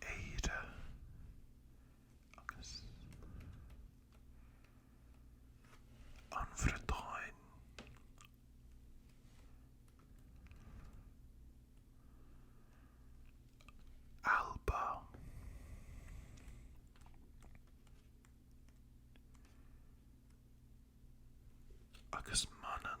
Éire agus an Bhriotáin. Alba. agus Manainn.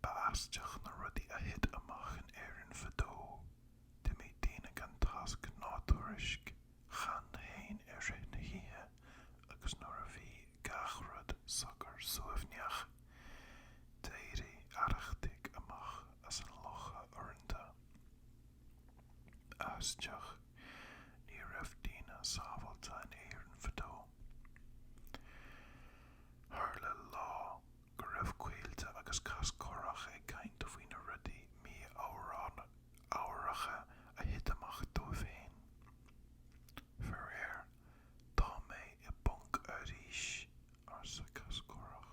Ba aisteach na rudaí a thit amach in Éirinn fadó. D'imigh daoine gan tásc ná tuairisc, chan éin i rith na hoíche agus nuair a bhí gach rud socair suaimhneach, d'éirigh arrachtaigh amach as an locha uaireanta. Aisteach, ní raibh daoine sábháilte in Éirinn fadó. Tharla lá go raibh Caoilte agus Cas Corach ag caint faoi na rudaí mí-ámharacha a thit amach dóibh féin. Faraor, tá mé i bponc arís, arsa Cas Corach.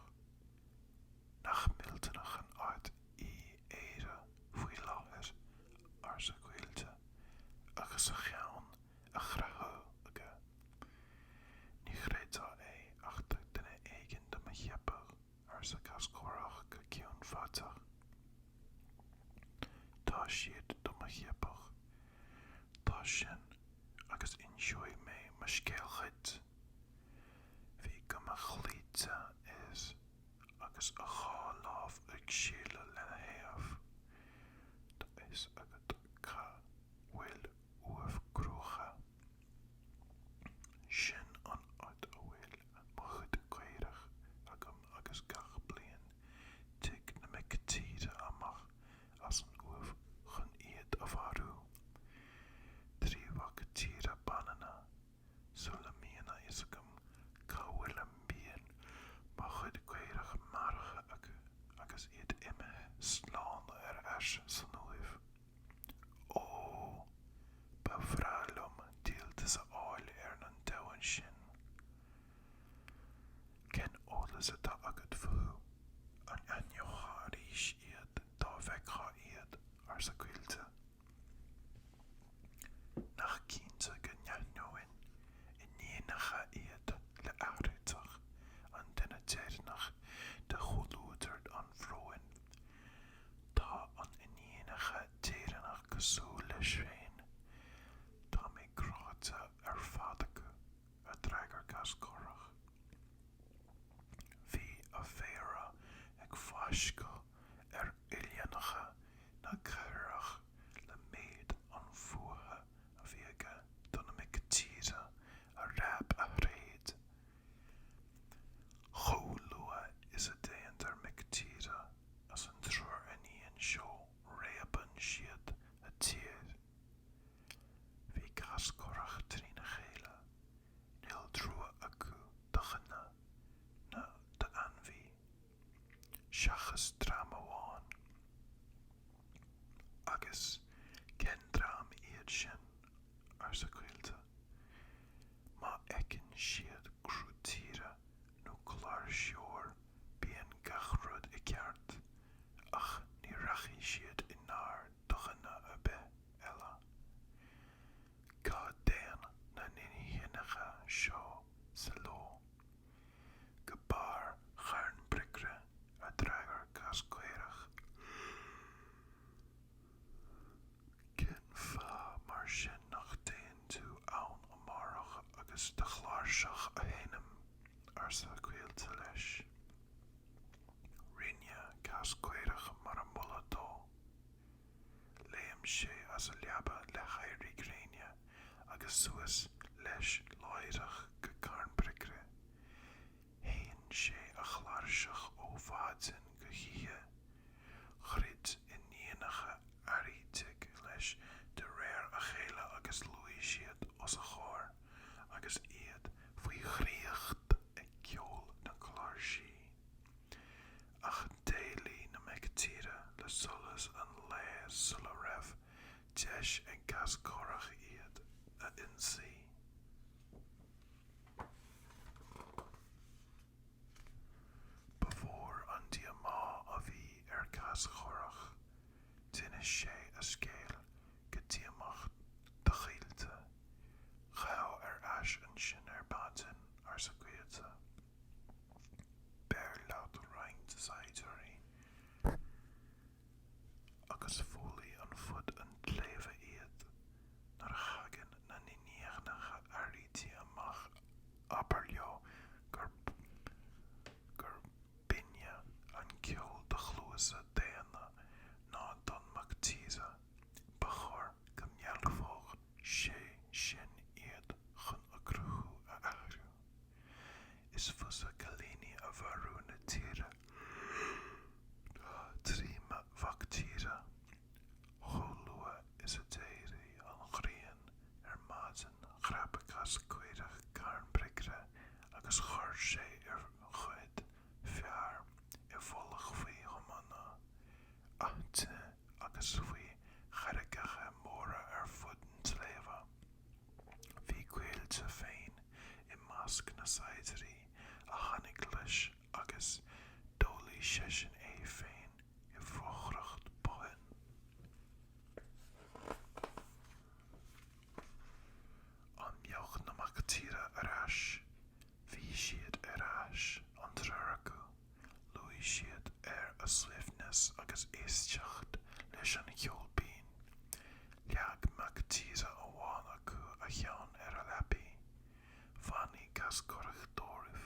Nach millteanach an áit í Éire faoi láthair, arsa Caoilte agus a cheann á chroitheadh aige. Ní chreidfeá é, ach tá duine éigin do mo chiapadh, arsa Cas Corach go ciúin faiteach. Tá siad do mo chiapadh. Tá sin, agus inseoidh mé mo scéal dhuit. Bhí cuma chloíte air agus a dhá lámh ag sileadh lena thaobh. Tá a fhios agat cá bhfuil Uaimh Cruachan. Sin an áit a bhfuil mo chuid caorach agam agus gach bliain tig na mic tíre amach as an uaimh chun iad a mharú. Trí mhac tíre baineanna, sula mbíonn a fhios agam cá bhfuilim bíonn mo chuid caorach maraithe acu agus iad imithe slán ar ais san uaimh. Ó, ba bhreá liom díoltas a fháil ar na deamhain sin. Cén eolas atá agat fúthu? An aithneofá arís iad dá bhfeictheá iad? arsa Caoilte. Nach cinnte go n-aithneoinn iníonacha iad le Airiteach an duine deireanach de chomhluadar an bhróin. Tá a iníonacha díreach cosúil leis féin. Tá mé cráite ar fad acu, a d'fhreagair Cas Corach. Bhí a mhéara ag fáisceadh ar uillinneacha na cathaoireach le méid an fhuatha a bhí aige do na mic tíre a reab a thréad. Chomh luath is a dhéantar mic tíre As an triúr iníon seó réabann siad an tír. Bhí Cas Corach trína chéile, níl trua acu do dhuine ná d'ainmhí, seachas dream amháin. Agus cén dream iad sin? arsa Caoilte. Má fheiceann siad cruitire nó cláirseoir Bíonn gach rud i gceart, ach ní rachaidh siad i ngar do dhuine ar bith eile. Cá dtéann na hiníonacha seo sa ló? Go barr Charn Bricre, a d'fhreagair Cas Corach. Cén fáth mar sin nach dtéann tú ann amárach agus do chláirseach a sheinm? arsa Caoilte leis. Rinne Cas Corach mar a moladh dó. Léim sé as a leaba le héirí gréine agus suas leis láithreach go Carn Bricre. Sheinn sé a chláirseach ó mhaidin go hoíche. Dhruid iníonacha Airitigh leis de réir a chéile agus luigh siad os a chomhair agus iad faoi dhraíocht ag ceol na cláirsí. Ach d'éalaigh na mic tíre le solas an lae sula raibh deis ag Cas Corach iad a ionsaí. Ba mhór an díomá a bhí ar Chas Corach. D'inis sé a scéal go díomách do Chaoilte. Gabh ar ais ansin ar maidin, arsa Caoilte. Beir leat roinnt saighdiúirí agus folaigh ar fud an tsléibhe iad. Nuair a thagann iníonacha Airitigh amach abair leo gur binne an ceol do chluasa daonna ná don mac tíre. Ba chóir go meallfadh sé sin iad chun a gcruth a athrú. Is fusa cailíní a mharú na tíre ná trí mhac tíre. Chomh luath is a d'éirigh an ghrian ar maidin dhreap Cas Corach Carn Bricre agus chuir sé a chuid fear i bhfolach faoi thomanna aitinn agus faoi charraigeacha móra ar fud an tsléibhe. Bhí Caoilte féin i measc na saighdiúirí a tháinig leis agus d'fholaigh seisean é féin i bhfothrach botháin. An mbeadh na mac tíre ar ais? Bhí siad ar ais, an triúr acu. Luigh siad ar a suaimhneas agus éisteacht leis an cheol binn. Leag mac tíre amháin acu a cheann ar a lapaí. Bheannaigh Cas Corach dóibh.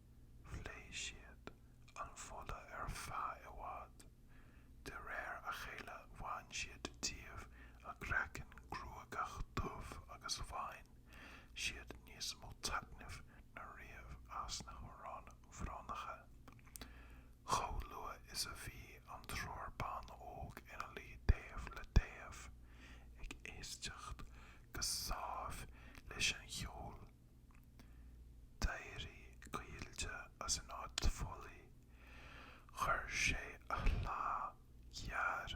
phléigh siad an moladh ar feadh i bhfad. De réir a chéile bhain siad díobh a gcraiceann gruagach dubh agus bhain siad níos mó taitnimh ná riamh as na hamhráin bhrónacha. Chomh luath is a bhí an triúr ban óg ina luí taobh le taobh, ag éisteacht go sámh leis an cheol, D'éirigh Caoilte as an áit folaigh. Chuir sé a shleá ghéar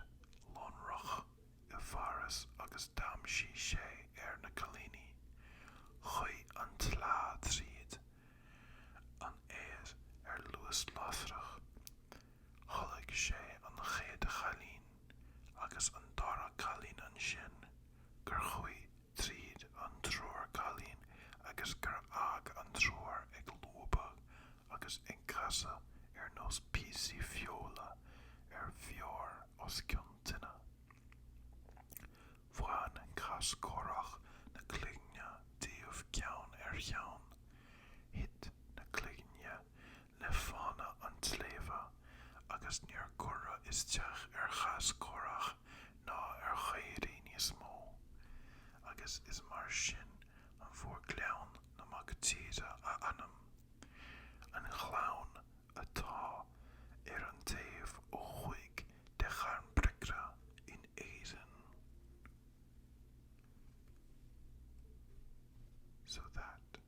lonrach i bhfearas agus d'aimsigh sé ar na cailíní. Chuaigh an tsleá tríd an aer ar luas lasrach. Tholg sé an chéad chailín agus an dara cailín ansin. gur chuaigh tríd an tríú cailín agus gur fhág an triúr ag lúbadh agus ag casadh ar nós píosaí feola ar bhior os cionn tine. Bhain Cas Corach na cloigne díobh ceann ar cheann. Thit na cloigne le fána an tsléibhe agus níor cuireadh isteach ar Chas Corach ná ar chaoirigh níos mó, agus is mar sin a fuair Gleann na Mac Tíre a ainm. An gleann atá ar an taobh ó thuaidh de Charn Bricre in Éirinn. So that.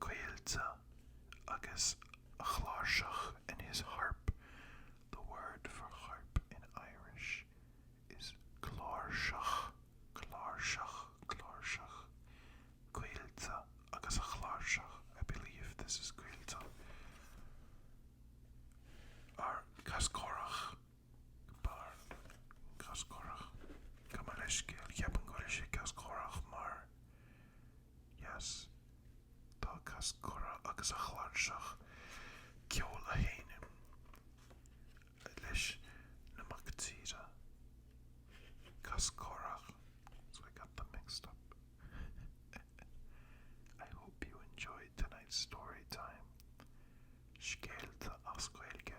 Caoilte agus a chláirseach and his harp, the word for harp in Irish is cláirseach, cláirseach, cláirseach, Caoilte agus a chláirseach I believe this is Caoilte or Cas Corach, mar, Cas Corach, gabh mo leithscéal, ceapaim go bhfuil sé Cas Corach mar Yes. Tá Cas Corach agus a chláirseach ceol a sheinm leis na mac tíre. Cas Corach so I got them mixed up. I hope you enjoyed tonight's story time. Scéalta as Gaeilge.